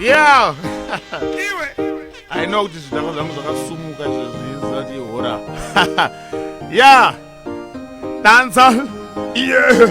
yeah i know kuti zvidhakwa zvangu zvakasumuka zvezvizati ihora yeah danza yeah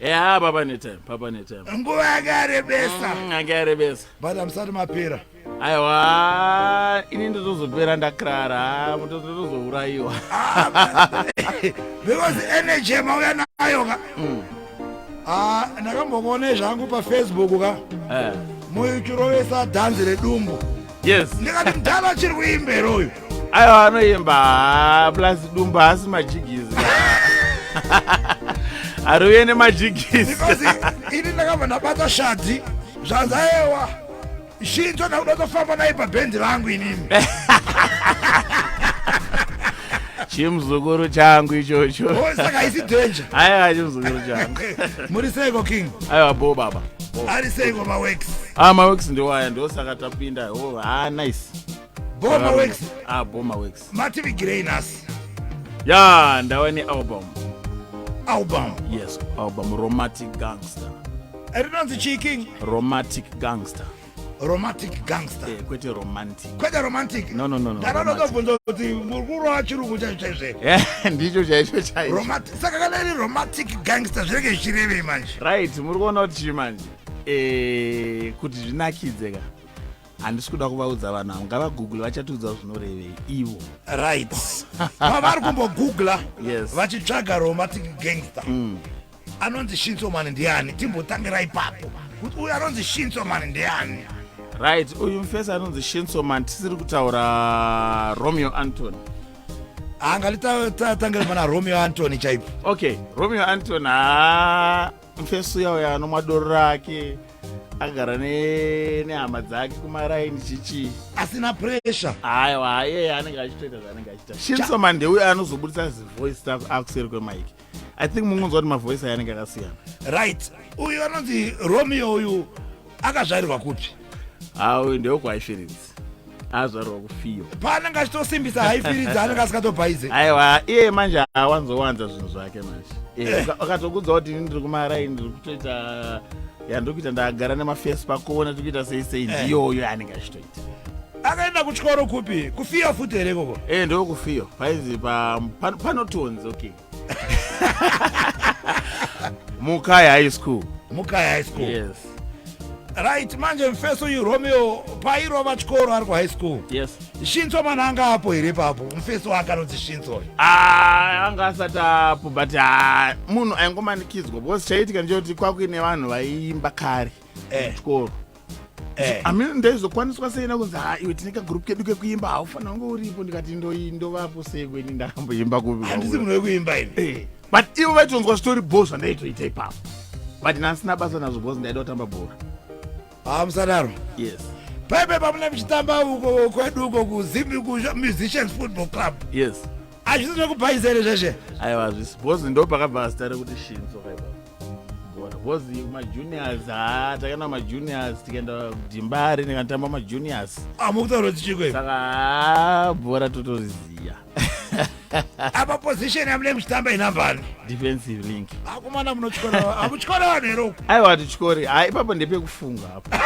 ya papa netime papa netime nguva yanga yarebesa mm, yanga yarebesa but amusati mapera aiwa ini ndotozopera ndakrara mutozourayiwa ah, because energy mauya nayo ka mm. ah, ndakambokuonei zvangu pafacebook ka eh. muchirovesa dhanzi redumbu yes ndikati mdhara achiri kuimbera uyu aiwa anoimba plus dumba haasi majigizi ariuye nemajigizi ini ndakabva ndabata shadhi zvanzi ayewa shinzo ndakuda tofamba naye pabhendi rangu inini chimuzukuru changu ichocho oh, saka isi danger aiwa chimuzukuru changu muri seiko king aiwa bo baba ari seiko mawex ah mawex ndiwaya ndosaka tapinda oh ah nice bo mawex ah bo mawex mativigirei nhasi ya ndava nealbum album yes album romantic gangster rinonzi chii king romantic gangster romantic gangster eh, kwete romantic kwete romantic no no no no kana ndokabvunza kuti mukuru wachirungu chacho chaizve ndicho chaizvo chaizvo romantic saka kana iri romantic gangster zvinenge zvichirevei manje right muri kuona kuti chii manje eh kuti zvinakidze ka handisi kuda kuvaudza vanhu avo ngavagoogle vachatiudza zvinorevei ivo right pavari kumbogoogla yes. vachitsvaga romantic gangster mm. anonzi shinso mani ndiani timbotangira ipapo kuti uyu anonzi shinso mani ndiani right uyu mufesi anonzi shinso mani tisiri kutaura romeo antony anga litatangire pana romeo antony chaipo okay romeo antony ha mufesi uya uya anomwa doro rake agara nehama dzake kumaraini chichi asina pressure aiwa iyeye anenge achitoita zvaanenge achiita shinso mani ndeuyo anozobudisa zivoice staff akuseri kwemaiki i think mungonzwa kuti mavoice ayanenge akasiyana right uyu anonzi romeo uyu akazvarirwa kupi hauyu ndeokwaishiridzi azvarwa kufiyo paanenge achitosimbisa haifiridzi anenge asikatobhaize aiwa iye manje awanzowanza zvinhu zvake manje eh, akatokudza kuti ini ndiri kumaraini ndiri kutoita yandiri kuita ndagara nemafesi pakuona tiri kuita sei sei eh. ndiyoyo anenge achitoita akaenda kuchikoro kupi kufiyo futi here koko e eh, ndo kufiyo paizi panotonzi pa, pa okay mukaya high school mukaya high school yes right manje mfeso uyu romeo pairova chikoro ari kuhigh school yes shinso mana anga apo here papo mfeso akanonzi shinso ah, anga asati apo but ah, munhu aingomanikidzwa because chaitika ndechekuti kwakuine vanhu vaiimba kare eh. chikoro Eh. amene ndaizokwaniswa sei nakunzi ha iwe tine kagroup kedu kekuimba haufanira kunge uripo ndikati ndovapo sei kweni ndakamboimba kuvihandisi munhu wekuimba ini eh. but ivo vaitonzwa zvitori bho zvandaitoita ipapo but nansina basa nazvo bcause ndaida kutamba bhora haa ah, musadaro yes paipe pamuna muchitamba uko kwedu uko kuzimbi kumusicians football club yes hazvisi nekubhaizere zveshe aiwa hazvisi bcause ndopakabva zita rekuti shinzo kaipapo because majuniors ha takaenda majuniors tikaenda dimbari ndikatamba majuniors amukutaura ah, tichiko saka ha bhora totoriziya apa position yamune muchitamba inambani defensive link akomana ah, munotyora amutyora vanhu here uku aiwa tityori ha ah, ipapo ndepekufunga apo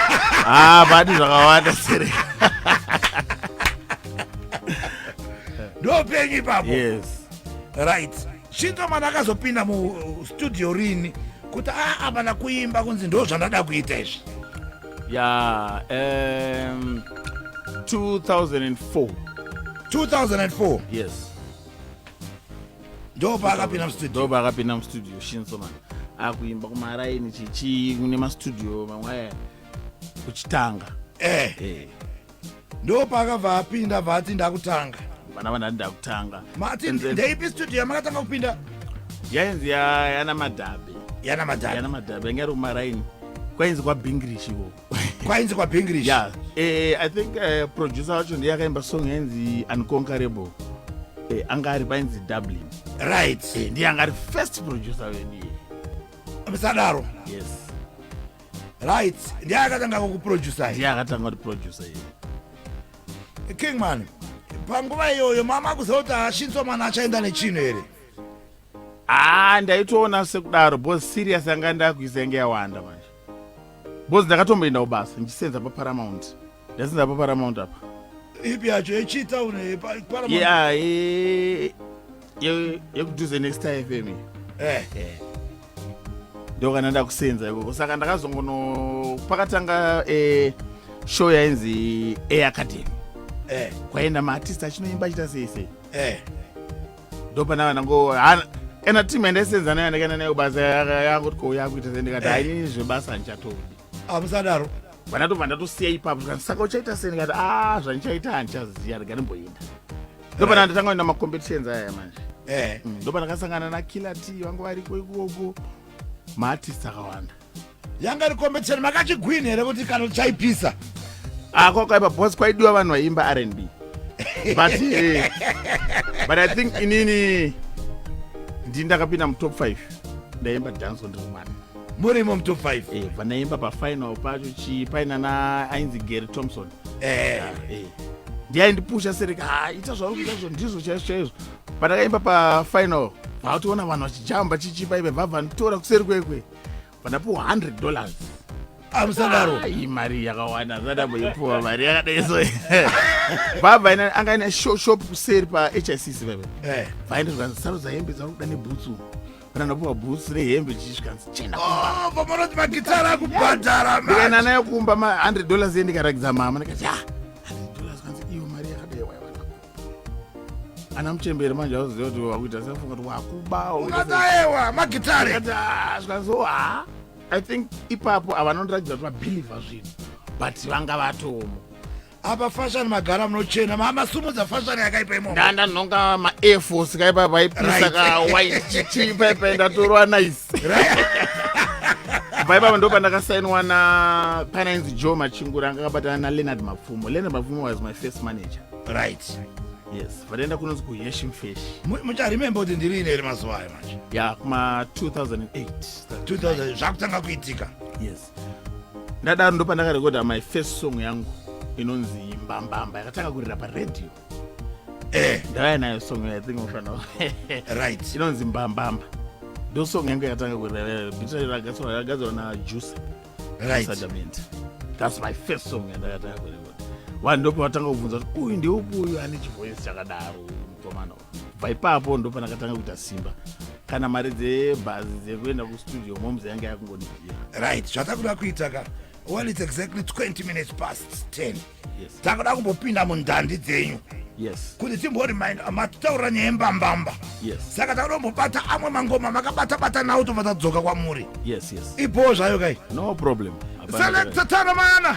ha padi zvakawanda sere ndopenyu ipapo yes right Chinzomana akazopinda mustudio rini kuti aa mana kuimba kunzi ndo zvandada kuita izvi ya yeah, um, 2004 2004 yes ndopaakapinda mustudio ndopaakapinda mustudio shinsoman akuimba kumaraini chichii kune mastudio mamwe aya kuchitanga eh. eh. ndo paakabva apinda bva ati ndakutanga vana vandati ndakutanga mati ndeipi studio yamakatanga kupinda yainzi yana madhabe yana madhabe yana madhabe yanga iri kumaraini kwainzi kwabingrish iko kwainzi kwabingrish ya eh, i think eh, producer wacho ndiye akaimba song yainzi unconquerable eh, anga ari painzi dublin right ndiye anga ari first producer vedu sadaro yes right ndiye akatanga kukuproducer ndiye akatanga kuti producer iye king man panguva iyoyo mama akuziva kuti ashinso mwana achaenda nechinhu here haa ah, ndaitoona sekudaro bos serious yanga ndakuisa yange yawanda manje bos ndakatomboenda kubasa ndichisenza paparamount That's not Paramount up. Ipi yacho yechi town eh, pa- Paramount. Yeah, eh, eh, yekuduze next time FM. Eh. Ndio kana ndakusenza ikoko. Saka ndakazongono pakatanga eh show yainzi A Academy. Eh. Kwaenda maartist achinoimba achita sei sei. Eh. Ndio pana vana ngo hana- ena team yandasenza nayo ndakaenda nayo basa yanga kuti ko yakuita sei ndikati Eh. hainini zvebasa handichatondi. amusadaro vana tobva ndatosiya ipapo zvikanzi saka uchaita sei ndikati a ah, zvandichaita handichaziya rega ndimboinda ndobva eh. ndatanga kuenda macompetitions aya manje eh. mm, ndobva ndakasangana nakiller t vangu variko ikoko maartist akawanda yanga ri competition makachigwini here kuti kana tichaipisa ah, kwakaipa bcause kwaidiwa vanhu vaiimba r n b but eh, but i think inini ndii ndakapinda mutop five ndaimba dance on ndiri mwana murimo mutop 5 eh, vanaimba pafinal pacho chii paina na ainzi gary thompson eh. ah, eh. ndiyaindipusha sereka ah, ita zvauri kuita izvo ndizvo chaizvo chaizvo pandakaimba pafinal vakutoona vanhu vachijamba chichipa ive vabva nditora kuseri kwekwe vanapuwa 100 dollars amusangaro ah, i mari yakawanda zadamboipuwa mari yakadaiso baba ina anga ine shop kuseri pahicc veve eh. vaenda zvikanzi sarudzayembe dzauri kuda nebhutsu kana ndapuwa bhusi rehembe chichisvikanzi chenda oh, pamanoti magitara akubhadhara ndikaenda nayo kumba ma100 dollars endikarakidza mama ndikati ha ana muchemberi manje auziva kuti wakuita sefunga kuti wakubaoaewa magitareazvikazo ah, ha ah, i think ipapo avanondiratidza kuti vabhilivha zvinhu but vanga vatomo apa fashion magara munochena mamasumudza fashion yakaipa imomo ndanda ndinonga maair force kaipa paipisa ka white chichi paipa ndatorwa nice vaipapa ndo pandakasainwa na pana inzi joe machingura anga akabatana naleonard mapfumo leonard mapfumo was my first manager right yes vataenda kunonzi kuheshim fish mucharemembe kuti ndiri ine iri mazuva ayo manje ya kuma 2008 zvakutanga kuitika yes ndadaro ndopandakarekodha my first song yangu inonzi mbambamba yakatanga kurira paradio eh. ndavaya nayo song i think mufana right inonzi mbambamba ndo song yangu yakatanga kurira bitarakagadzirwa na juice right adamenti thats my first song yandakatanga kurekoda vanhu ndopavatanga kubvunza kuti uyu ndeupi uyu ane chivoice chakadaro mukomana uyu bva ipapo ndopanakatanga kuita simba kana mari dzebhazi dzekuenda kustudio moms yanga yakungondidira right zvatakuda kuita ka well its exactly 20 minutes past 10 yes. takuda kumbopinda mundandi dzenyu yes. kuti timborimind matitaurira nyaya yembambamba yes. saka takuda kumbobata amwe mangoma makabatabata nawo tobva tadzoka kwamuri yes, yes. ibhoo zvayo kai no problem selectatana mana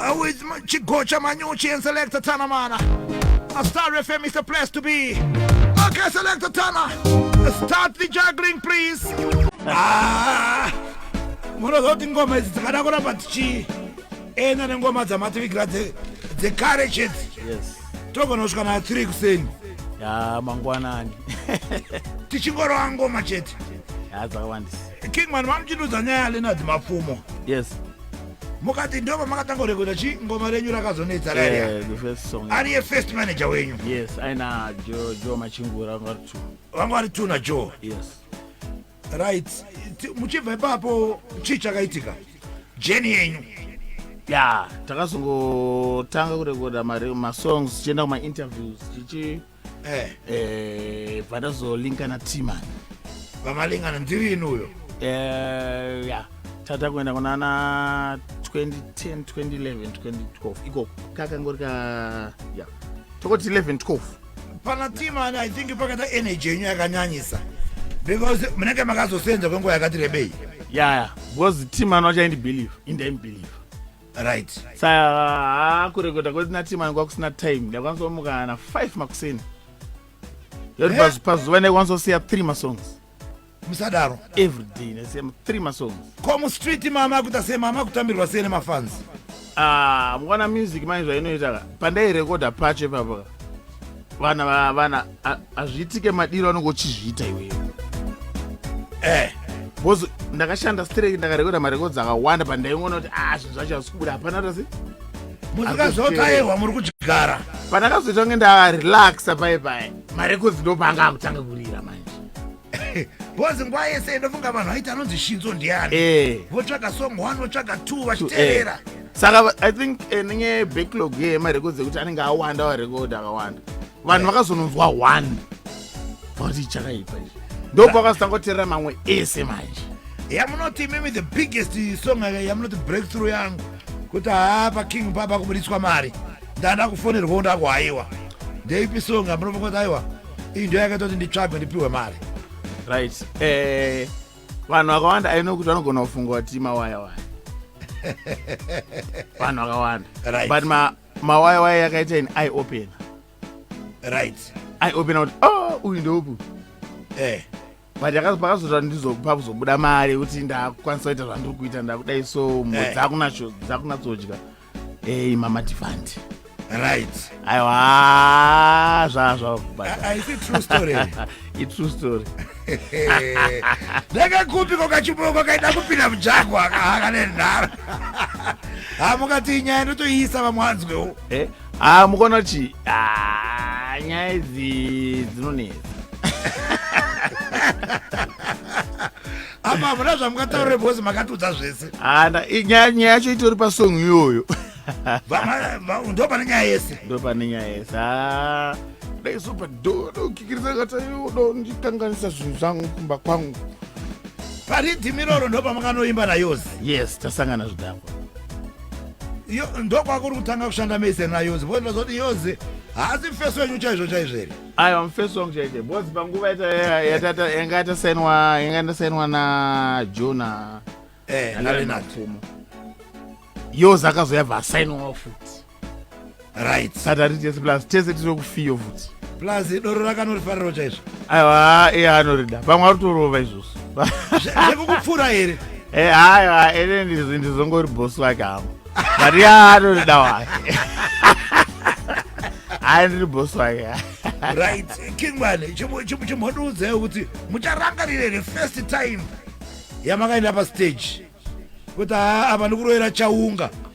Uh, with Chigocha Manyuchi and Selector Tana Mana. A Star FM is the place to be. Okay, Selector Tana, start the juggling, please. Ah, munozoti ngoma idzi dzikada kuramba tichi ena nengoma dzamativigira dzekare chete togona kusvika na 3 kuseni ya mangwanani tichingorova ngoma chete ya dzakawandisa king man vamuchindudza nyaya ya lenard mapfumo yes mukati ndoba makatanga kurekoda chi ngoma renyu rakazonetsa rariya ariye first manager wenyu yes aina jo jo machingura vanga vari two vanga vari two na jo yes right muchibva ipapo chii chakaitika jeni yenyu ya takazongotanga kurekoda masongs tichienda kumainterviews tichi eh. eh, bva tazolinka na timan vamalingana ndiri ini uyo eh, ya tata kuenda kunana 2010 2011 2012 ikoko kakangori ka ya tokoti 11 12 pana timan i think pakata energy yenyu yakanyanyisa because munenge makazosenza kwenguva yakati rebei yaya yeah, yeah. because timan wachaindibelieve indaimubelieve right saa kurekota kwesina time anenge kwakusina time ndaikwanisa kumuka na 5 makuseni yoti eh? pazuva ndaikwanisa kusiya 3 masongs musadaro everyday ndasiya 3 masongs ko mustreet mama akuita sei mama akutambirwa sei nemafansi ah mukwana music manje zvainoita ka pandairekoda pacho ipapaka vana va- vana a- hazviitike madiro anonge uchizviita iwewe eh bozi ndakashanda straight ndakarekoda marekodzi akawanda pandaingoona kuti ah zvinhu zvacho hazvisi kubuda hapana tasi muzikazotairwa muri kuchigara pandakazoita kunge ndarelaxa paye paye marekodzi ndopaanga akutanga kurira manje bhozi nguva yese ndofunga vanhu vaiti anonzi shinzo ndiani eh. votsvaga song one votsvaga two eh. vachiteerera saka i think eh, nenye backlog yemarecords ekuti anenge awanda warecord akawanda vanhu vakazononzwa one vati chakaipa izvi ndobva vakazotanga kuteerera mamwe ese manje yamunoti imimi the biggest song yamunoti breakthrough yangu kuti haa paking papa kubudiswa mari ndanda kufonerwawo ndakuhaiwa ndeipi song amunovakuti aiwa iyi ndiyo yakaita kuti nditsvagwe ndipiwe mari right eh, vanhu vakawanda aino kuti vanogona kufunga kuti mawaya waya vanhu vakawanda right. but ma, mawaya waya yakaita in i open right i open kuti oh uyu ndeupu eh. but pakazoita ndizopa kuzobuda mari yekuti ndakukwanisa kuita zvandiri kuita ndakudai so eh. dzakunatsodya ei mama tifandi right aiwa zvazvaaitrue story ndakakupi kokachipo kwakaida kupinda mujagwa akaaka nenhara hamukati nyaya ndotoiisa vamwanzwewo eh, Ah, mukaona kuti ah, nyaya idzi dzinonetsa apa hamuna zvamukataurire because makatudza zvese Ah, nda- i- nyaya nyaya yacho itori pasong iyoyo ndo pane nyaya yese ndo pane nyaya yese Ah, ndaizopa dokikiriza kataiwo dondikanganisa zvinhu zvangu kumba kwangu paridhimi iroro ndo pamakanoimba nayozi yes tasangana zvidhakwa ndokwakuri kutanga kushanda mese nayozi bcause ndazoti yozi haasi mfesi wenyu chaizvo chaizvo here aiwa mfesi wangu chaizvo bcause panguva yanga yatasainwa yanga ndasainwa na jona eh, nalenatumo yozi akazoyabva asainwawo futi right hatati tese plus tese tiri kufiyo futi plus doro rakanorifariro chaizvo aiwa iye anorida pamwe arutorova izvozvo zvekukupfuura here eh, haiwa ene ndizongori bosi wake hangu but iye anorida wake hayi ndiri bosi wake right kingwane chimhondiudzai kuti mucharangarira here first time yamakaenda pastage kuti haa apa ndikuroera chaunga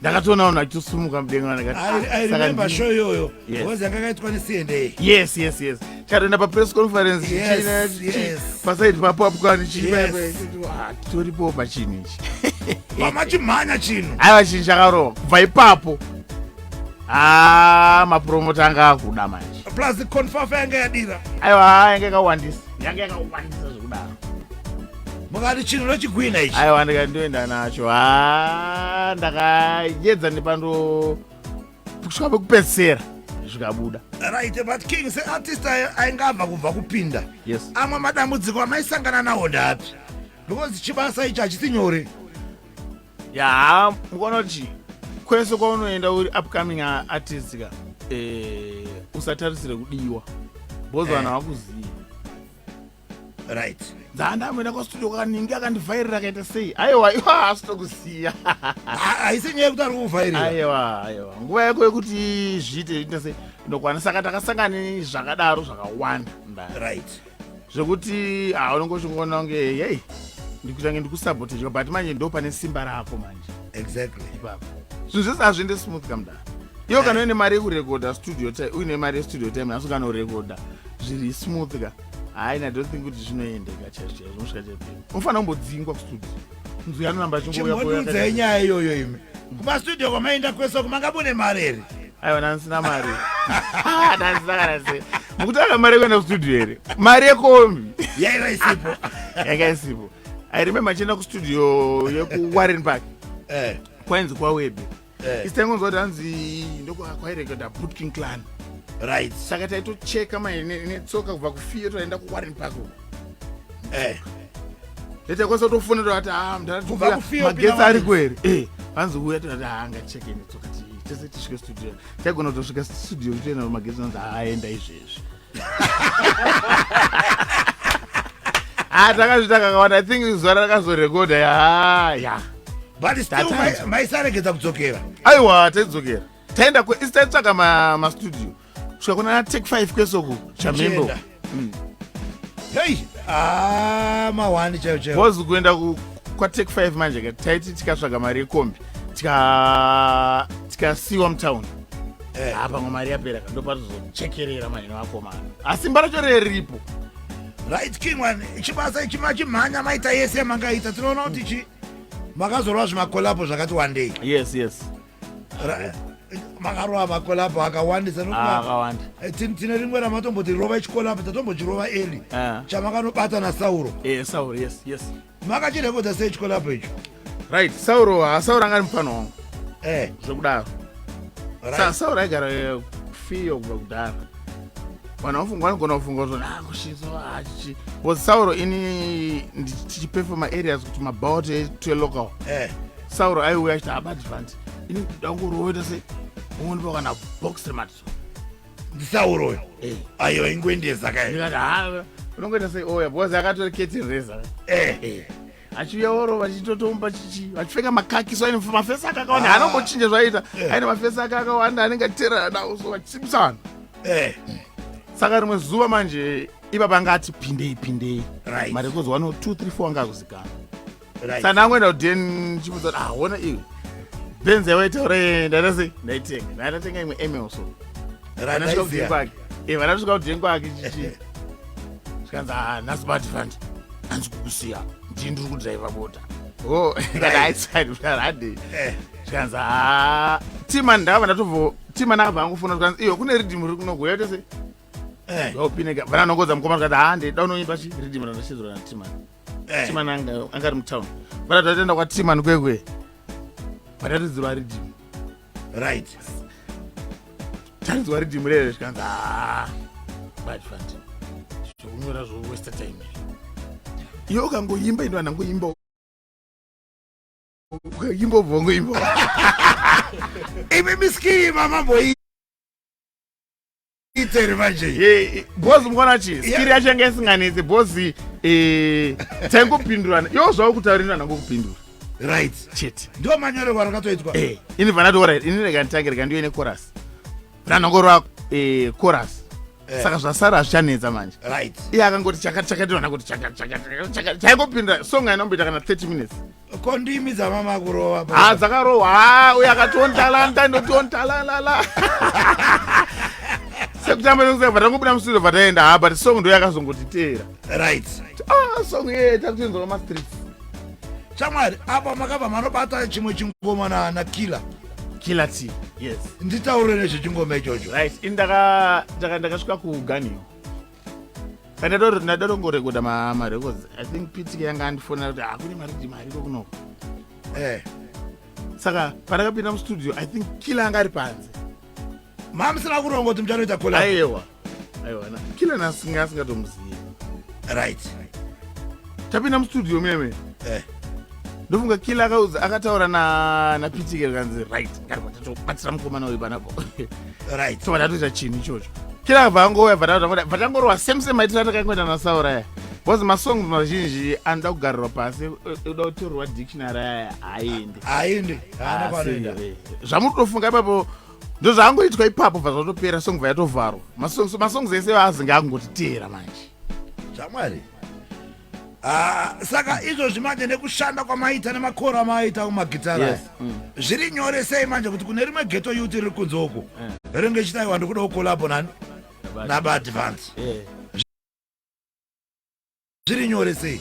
ndakatoona vanhu vachitosumuka mudenga ndikasaka show iyoyo bcause yanga kaitwa necna yes yes yes chatoenda papress conference pasaidi papo apo kani chiitoripo pachinhu ichi vamachimhanya chinhu aiva chinhu chakarova kubva ipapo a mapromota anga akuda manje plus confafa yanga yadira aiwa yanga yakawandisa yanga yakawandisa zvekudaro mukati chinhu nochigwina ichi aiwa ndikandoenda nacho ha ah, ndakayedza nepando kusvika pekupedzisera zvikabuda right but king seartist ainge abva kubva kupinda yes amwe madambudziko amaisangana nawo ndapi because chibasa ichi hachisi nyore yaa mukaona kuti kwese kwaunoenda uri upcoming artist ka eh, usatarisire kudiwa bcause eh. vanhu eh. havakuzivi right dzaandamboenda kwastudio kwaningi akandivhairira akaita sei aiwa iwa haasi tokusiya haisi nyaya yekuti ari kuvhairira aiwa aiwa nguva yako yekuti zviite ita sei ndokwana saka takasangani zvakadaro zvakawanda mba right zvekuti ha unenge uchingoona kunge hei ndikutange ndikusabotedwa but manje ndo pane simba rako manje exactly ipapo zvinhu zvese hazviende smooth kamdara iwo kana uine mari yekurekodha studio time uine mari yestudio time asi ukanorekodha zviri smooth ka hayi na don't think kuti zvinoendeka chaizvo chaizvo unosvika chapei unofanira kumbodzingwa kustudio mzwi anoramba achingouyauudza inyaya iyoyo imi kumastudio kwamaenda kwese uku manga mune mari here aiwa ndanisina mari ah, ndanisina kana se mukutanga mari yekuenda kustudio here mari yekombi yaiva isipo yanga isipo i remember chienda kustudio yekuwarren park eh. kwainzi kwawebe eh. is taingonzwa kuti hanzi ndokwairekoda putkin clan right saka taitocheka netsoka kubva kufiyo taenda kuwarren park eh. leta kwasa tofona tovati ah, mdaakufiyomagetsi ari kweri eh, vanzi uya tovati haangacheke ah, netsoka tese tisvike studio taigona kutosvika studio toenda magetsi anzi haaenda ah, izvezvi Ah, takazvita kakawanda i think zuva rakazorekodha ya ya but still Tatazwa. mai- maisaregedza kudzokera aiwa taidzokera taenda ku- isi taitsvaka ma- mastudio kusvika kuna take 5 kwesoku chamhembo Tichienda. hei ah, mahwani chaiwo chaiwo bcause kuenda ku- kwatake 5 manje ka taiti tikatsvaga mari yekombi tika- tikasiwa mutown Eh. Ah, pamwe mari yapera ka ndopatozochekerera mahino akomana asi ah, mbaracho reripo right king one chibasa ichi machimhanya maita yese mangaita tinoona kuti chi makazorova zvimakolapo zvakati wandei yes yes makarova makolapo akawandisa ah, eh, tine rimwe ramatomboti rova ichikolapo tatombochirova eli eh. chamakanovata nasauro eh, makachirekodza sei chikolabo icho right sauro hasauro angani mufana wangu eh. zvekudaro right. sauro aigara eh, fiyo kubva kudhara vanhu vafunga vanogona kufunga kuti ah, kushinso hachi ah, was sauro ini tichipefoma areas kuti mabaut to local eh. sauro aiuya achiti abadvant ah, ini ndangoroita se umwe ndipo kana box rematiso ndisauro uyo Eh. ayo aingoendesa kae ndikati ha unongoita sei oya because akatori keti reza Eh. achiuya oro vachitotomupa chichi vachipfeka makaki so aine mafesi ake akawanda Ah. haanombochinja zvaiita Eh. aine mafesi ake akawanda anenge achiterera nawo so vachisimisa vanhu Eh. saka rimwe zuva manje ipapa anga ati pindei pindei Right. mari yekuzwa no 2 3 4 anga akuzikana sanangoenda kuden ndichibudza kuti ahona iwe benzi yawaita uraenda ndase ndaitenga ndatenga imwe emelso vanasvika kuden kwake e vanasvika kuden kwake chichi zvikanzi ah, nhasi bati fandi hanzi kukusiya ndii ndiri kudriva bota o kana aiside utaradi zvikanzi ha tima ndava ndatovo tima nava vangofona zvikanzi iyo kune riddim riri kunogoya kuti se vaupineka eh. vananongodza mukoma zvikanzi ha ah, ndida unoimba chi riddim randachizorana tima Eh. Timan anga anga ari mutown. Bana tatenda kwa Timan kwekwe. Patatidzirwa riddim. Right. Tatidzirwa riddim rere zvikanzi ah. Bad fat. Zvokunyora zvo waste time. Yo kangoyimba ndo anangoyimba imbobvongo imbo imi miskini mama boyi itere manje eh, bozi mukona chi skiri yacho yanga isinganetsi bozi eh, taingopindurana yo zvavo kutaurina nango kupindura right chete ndo manyorerwa rakatoitwa eh, ini vanatora ini rega nditange rega ndiyo ine chorus ranango rwa chorus Eh. saka zvasara hazvichanetsa manje iye akangoti chakati chakati vana kuti chakati chakati chaingopinda song ainomboita kana 30 minutes ko ndimi dzamama kurova pa- ha dzakarohwa ha uyo akationtalanta ndotiontalalala sekutamba nekuseka vatangobuda mustudio vataenda ha but song ndoyo yakazongotiteera right ah song ye takutoinzwa mastreets shamwari apa makabva manobata chimwe chingoma na- na killer killer t yes nditaure nezvechingoma ichocho right ini ndaka- ndaka- ndakasvika kuganiwa ndadotongorekoda marecords i think pitike yanga andifonera kuti hakune ah, mari kuti mari kokunoko eh. saka pandakapinda mustudio i think kila anga ari panze mamusina kuronga kuti muchanoita kola aiwa aiwa kila nasinga asingatomuzivi right, right. tapinda mustudio meme eh. ndofunga kila akaudza akataura napitike rikanzi right ngatatobatsira mukomana uyu panapo right so vatatoita chinhu ichocho kila akabva angouya vatangorova same same maitira takangoita nasauraya bcause masongs mazhinji anoda kugarirwa pasi eh, eh, uda kutorwa dictionary aya haendi haendi zvamuri kutofunga ipapo ndozvaangoitwa ipapo bva zvatopera song bva yatovharwa masongs ese vaazinge akungotiteera manje zvamwari Ah, saka izvozvi manje nekushanda kwamaita nemakoro amaaita kumagitara yes. mm. zviri nyore sei manje kuti kune rimwe geto yuti riri kunze uku yeah. Eh. ringe ichitaiwa ndikuda kukolabo nani nabaadvance yeah. zviri nyore sei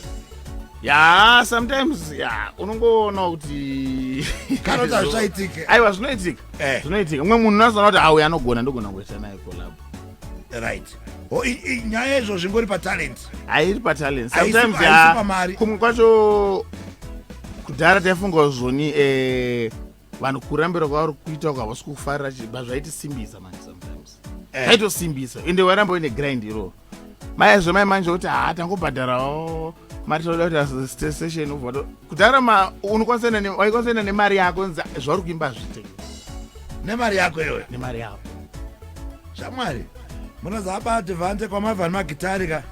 ya sometimes ya unongoona kuti kana kuti hazvichaitike aiwa zvinoitika eh. zvinoitika umwe munhu unozoona kuti auya anogona ndogona kuita naye kolabo right oh, nyaya izvo zvingori patalent hairi patalent sometimes ah, kumwe kwacho kudhara taifunga zvoni eh, vanhu kurambira kwavari kuita uko havasi kufarira chibva zvaitisimbisa manje sometimes eh. zvaitosimbisa ende waramba uine grind iroo maizvo mai manje kuti haa ah, tangobhadharawo mari toda kuti station kudhara ma unokwanisa enda ne- waikwanisa enda nemari yako nza zvauri kuimba hazviite nemari yako iyoyo nemari yako shamwari munozaba advance kwamavhani magitari ka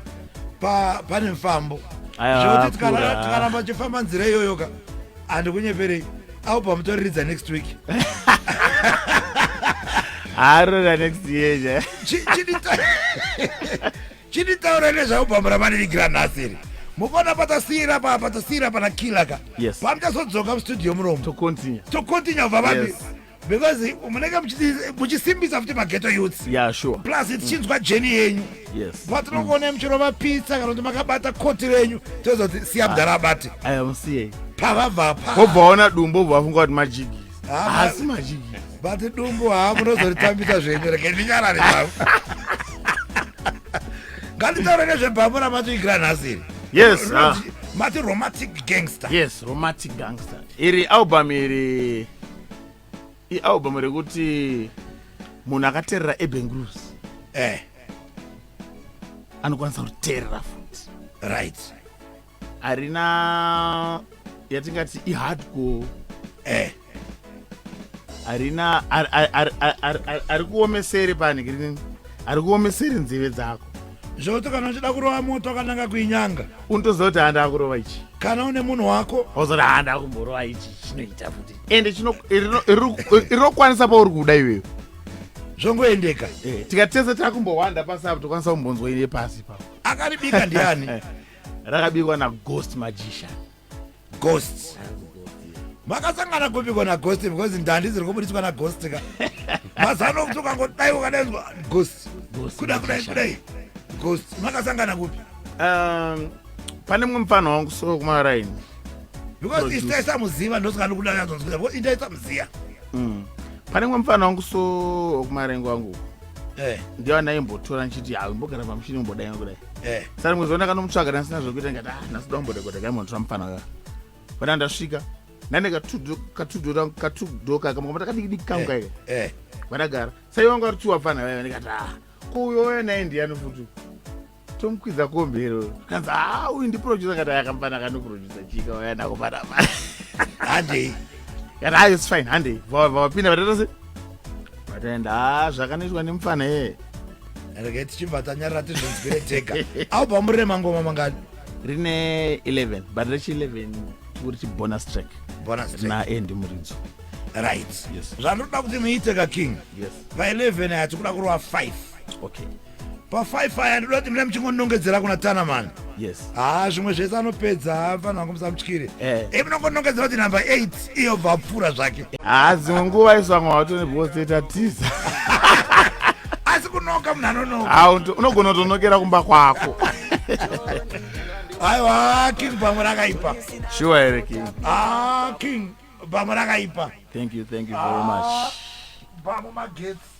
pa- pane mfambo Aya, zvekuti tikara- akura. tikaramba tichifamba nzira iyoyo ka andikunyeperei au pamutoriridza next week haarora next year ja Chi- chidita- chinditaura nezvavo bhambo ramanirigira nhasi iri mukona patasiira pa patasiira pana kila ka Yes. pamuchazodzoka mustudio muromo To continue. tocontinue bva vambi Yes. because munenge muchiti- muchisimbisa futi mageto youths Yeah, sure. plus tichinzwa jeni yenyu Yes. patinongoonai muchirova pizza kana kuti makabata koti renyu tozoti siya mudhara abate I am CA. pavabva pa Hobva waona dumbo hobva wafunga kuti majigiri. haasi mazhinji bate dumbu haa munozoritambisa zvenyu reke ndinyarare zvavo nganditaure nezvebhambo ramatoigira nhasi iri yes ah. mati romantic gangster yes romantic gangster iri album iri ialbum rekuti munhu akateerera ebengrus eh. anokwanisa kuteerera futi right harina yatingati ihardcore eh harina ari kuomesere pani kirinini ari kuomesere nzeve dzako zvokuti kana uchida kurova moto akananga kuinyanga unotoziva kuti handa akurova ichi kana une munhu wako ozoti handa akumborova ichi chinoita futi ende rinokwanisa pauri kuda iweyo zvongoendeka eh, tikatese takumbowanda pasi apo tokwanisa kumbonzwa ine pasi ipapo akaribika ndiani rakabikwa naghost majisha ghost makasangana kubikwa naghost because ndandi dziri kubudiswa naghost ka mazano okuti ukangodai ukadainzwa ghost kuda kudai kudai ghost makasangana kupi um, pane mumwe mufana wangu so kumaraini because isitaisamuziva ndosaka ndikudaazonzwira because itaisamuziva mm. pane mumwe mufana wangu so kumaraini kwangu Eh. ndiyo andaimbotora ndichiti hawi mbogara pamushini umbodai kudai eh. saka rimwe zuva ndakanomutsvaga ndasina zvokuita ndikati ah nhasi domborekota kaimonotora mufana uya pana ndasvika nane katudho katudho kaka makoma takadikidiki kangu eh, kaika eh. vandagara sai wangu ari tuwa fana vaya ndikati ah ko uyo uya naye ndiyani futi tomukwidza kombi iro kanzi haa uyu ndiproducer kati ayakambana kanoproducer chika waya nako panapa handei kana ayo it's fine handei vavapinda vataita se vataenda haa zvakanoitwa nemufana yeye rege tichibva tanyarira tizvinzwire tega au pamurire mangoma mangani rine 11 but rechi 11 tikuri chibonus track bonus track na endi muridzo right Yes. zvandinoda kuti muite ka king yes pa 11 aya tikuda kurova 5 okay pafive aya ndoda kuti mune muchingonongedzera kuna tana mani yes haa ah, zvimwe zvese anopedza hafanira ah, kumusa mutyire eh. e munongonongedzera kuti number eight iyo bvapfuura zvake haa ah, dzimwe nguva isu vamwe vatone because toita tiza asi kunoka munhu anonoka haa unogona kutonokera kumba kwako aiwa king bamwe rakaipa shuwa here king haa king bamwe rakaipa thank you thank you very much bamwe magetsi